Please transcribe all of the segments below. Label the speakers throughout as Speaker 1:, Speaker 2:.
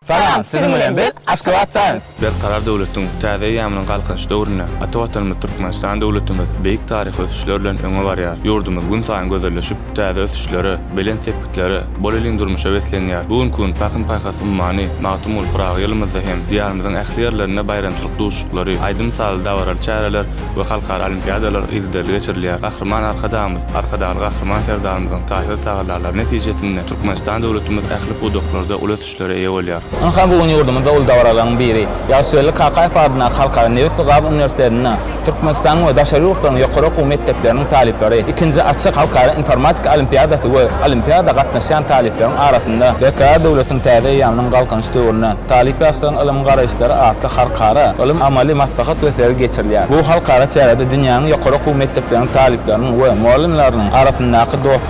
Speaker 1: Salam, siziň bilen biz Aşgabat Times. Berkarar döwletiň
Speaker 2: täze eýýamynyň Galkynyş döwründe ata Watanymyz Türkmenistan döwletimiz beýik taryhy ösüşler bilen öňe barýar. Ýurdumyz günsaýyn gözelleşip, Täze ösüşlere, belent sepgitlere, bolelin durmuşa beslenýär. Bu günki gün Pahym-paýhas ummany Magtymguly Pyragy ýylymyzda hem Diýarymyzyň ähli ýerlerinde baýramçylyk duşuşyklary, aýdym-sazly dabaraly çäreler we halkara olimpiadalar yzygiderli geçirilýär. Gahryman Arkadagymyz, Arkadagly Gahryman Serdarymyzyň taýsyz tagallalary netijesinde Türkmenistan döwletimiz ähli pudaklarda uly güýçlere eýe bolýar. Ynha, bu gün ýurdumyzda
Speaker 1: uly dabaralaryň biri, Ýagşygeldi Kakaýew atyndaky Halkara nebit we gaz uniwersitetinde Türkmenistanyň we daşary ýurtlaryň ýokary okuw mekdepleriniň talyplary, ikinji açyk halkara informatika olimpiadasy we olimpiada gatnaşýan talyplaryň arasynda Berkarar döwletiň täze eýýamynyň Galkynyş döwründe talyp-ýaşlaryň ylym garaýyşlary atly halkara ylym-amaly maslahat we sergi geçirilýär. Bu halkara çärede dünýäniň ýokary okuw mekdepleriniň talyplarynyň we mugallymlarynyň arasyndaky dostluk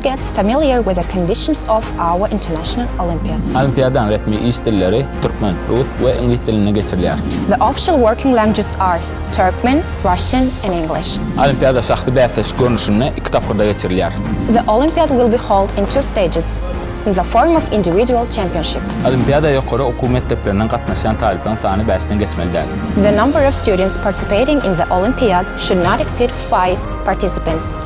Speaker 3: Get familiar with the conditions of our international Olympiad. Olimpiadanyň resmi
Speaker 1: iş dilleri türkmen, rus we iňlis dilinde geçirilýär. The official working
Speaker 3: languages are Turkmen, Russian, and English. Olimpiada şahsy
Speaker 1: bäsleşik görnüşinde iki tapgyrda geçirilýär. The Olympiad
Speaker 3: will be hold in two stages in the form of individual championship. Olimpiada ýokary
Speaker 1: okuw mekdeplerinden gatnaşýan talyplaryň sany bäşden geçmeli
Speaker 3: däl. The
Speaker 1: number
Speaker 3: of students participating in
Speaker 1: the
Speaker 3: Olympiad should not exceed five participants.